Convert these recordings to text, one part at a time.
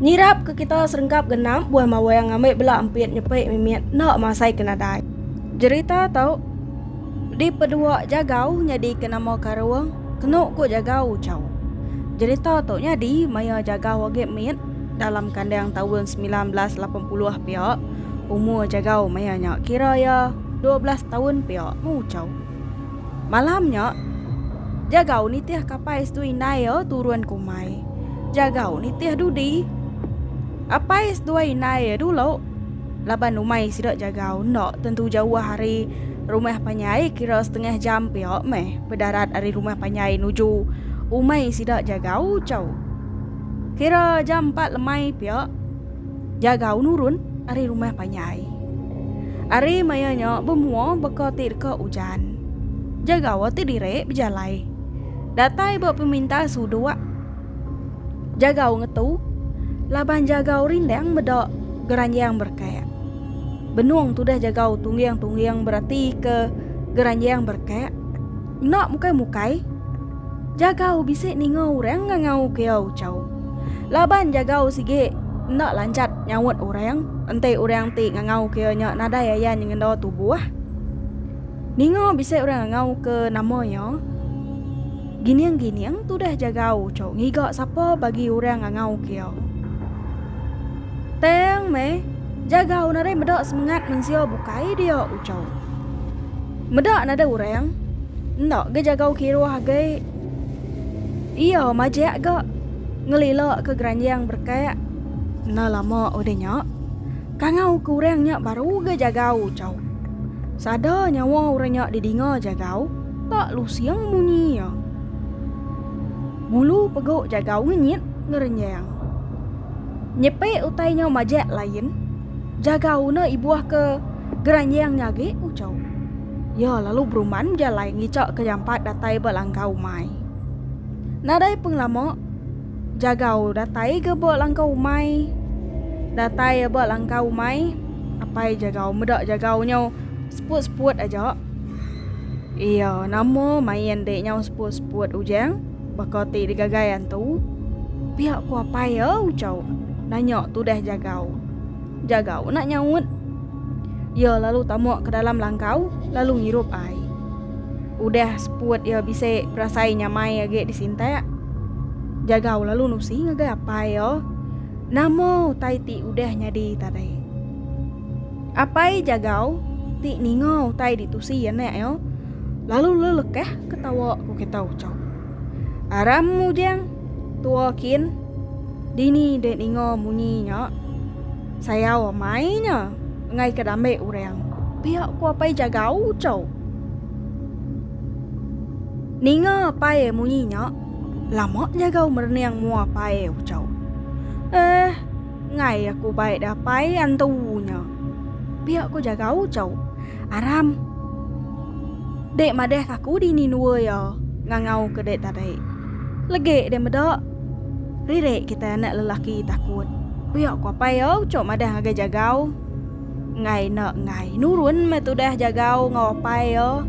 Nyirap ke kita serengkap genap buah mawang ngambi bela empit nyepi mimit enda masai ke nadai. Jerita tu dipedua Jagau nyadi ke nama Karung kenu ku Jagau Uchaw. Jerita tu nyadi maya Jagau agi mit dalam kandang taun semilan belas lapan puluh pia. Umur Jagau maya nya kira iya dua belas taun pia meh Uchaw. Malam nya, Jagau nitih Kapais dua indai iya turun ke umai. Jagau nitih dudi. Kapais dua indai iya dulu laban umai sida Jagau enda tentu jauh ari rumah panjai kira setengah jam pia meh bedarat ari rumah panjai nuju umai sida Jagau chau. Kira jam empat lemai pia. Jagau nurun ari rumah panjai. Ari maya nya bemua beka ti deka ujan. Jagau ti diri bejalai. Datai ba peminta suduk. Jagau ngetu laban jagau rindang meda geranjang berkak. Benung tudah jagau tungging-tungging berati ke geranjang berkak. Enda mukai-mukai. Jagau bisi ninga orang ngangau ke iya ucau. Laban jagau sigi enda lancat nyaut orang enti orang ti ngangau ke iya nya nadai ayan nyengenda tubuh. Ninga bisi orang ngangau ke nama iya. Gining-gining tudah jagau ucau ngiga sapa bagi orang ngangau ke iya. Tang meh, jagau nadai meda semengat mensia bukai dia ucau. Meda nadai orang. Enda ga jagau kiruh agi. Iya majak ga ngelila ke geranjang berkat. Enda lama udah nya. Kangau ke orang nya baru ga jagau ucau. Sada nyawa orang nya didinga jagau tak lusing munyi iya. Bulu pegu jagau ngenyit ngerenjang. Nyepi utai nya majak lain. Jaga una ibuh ke geranyang nya agi, ucau iya lalu beruman bejalai ngica ke jampat datai ba langkau umai. Nadai pengelama, jagau datai ga ba langkau umai. Datai iya ba langkau umai, apai jagau meda jagau nyau seput-seput aja. Iya nama main dek nyau seput-seput ujang. Baka ti digagai antu. Pia ku apai iya ucau nanya tudah jagau. Jagau enda nyaut. Iya lalu tama ke dalam langkau lalu ngirup ai. Udah seput iya bisi berasai nyamai agi disintak. Jagau lalu nusi ngagai apai iya nama utai ti udah nyadi tadi. Apai jagau ti ninga utai ditusi anak iya Lalu le lekah ke tawa ku kita ucau. Aram mujang tua kin dini de ninga munyi nya sayau amai nya engai ke dambe urang. Pia ku apai jagau ucau. Ninga apai munyi nya lama jagau merening mua apai ucau. Eh ngai aku baik da apai antu nya. Pia ko jaga ucau. Aram. Dek madah aku dini nua ia ngangau ke dek tadi. Legek dek meda. Ririk kitai anak lelaki takut. Pia ko apai ia ucau madah ngagai jagau. Enggai enda enggai. Nurun meh tudah jagau enggau apai ia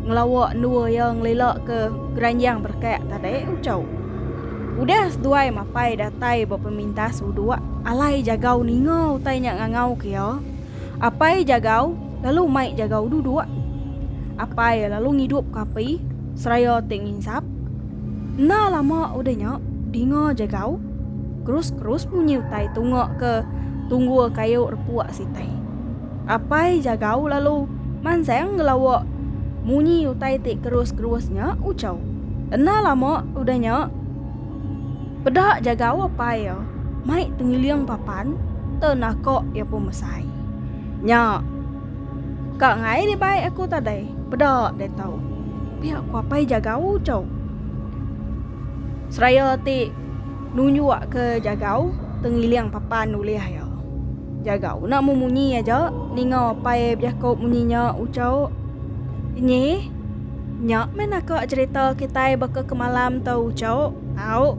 ngelawa nua ia ngelila ke geranjang berekak tadi ucau. Udah seduai mapai datai ba pemintas uduk, alai jagau ninga utai nya ngangauka iya. Apai jagau lalu mai jagau duduk. Apai lalu ngidupka api seraya ti nginsap. Enda lama udah nya, dinga jagau kerus-kerus munyi utai tunga ke tunggul kayu repuk sitai. Apai jagau lalu mansang ngelawa munyi utai ti kerus-kerus nya ucau. Enda lama udah nya, peda jagau apai iya mai tengiling papan te naka iya pun mesai. Nya, ka ngai di bai aku tadai, peda deh tau, pia ku apai jagau ucau. Seraya ti. Nunjuk ke jagau tengiling papan ulih iya. Jagau enda mu munyi aja ninga apai bejako munyi nya ucau nyi. Nya meh naka cherita kitai baka kemalam tu ucau au.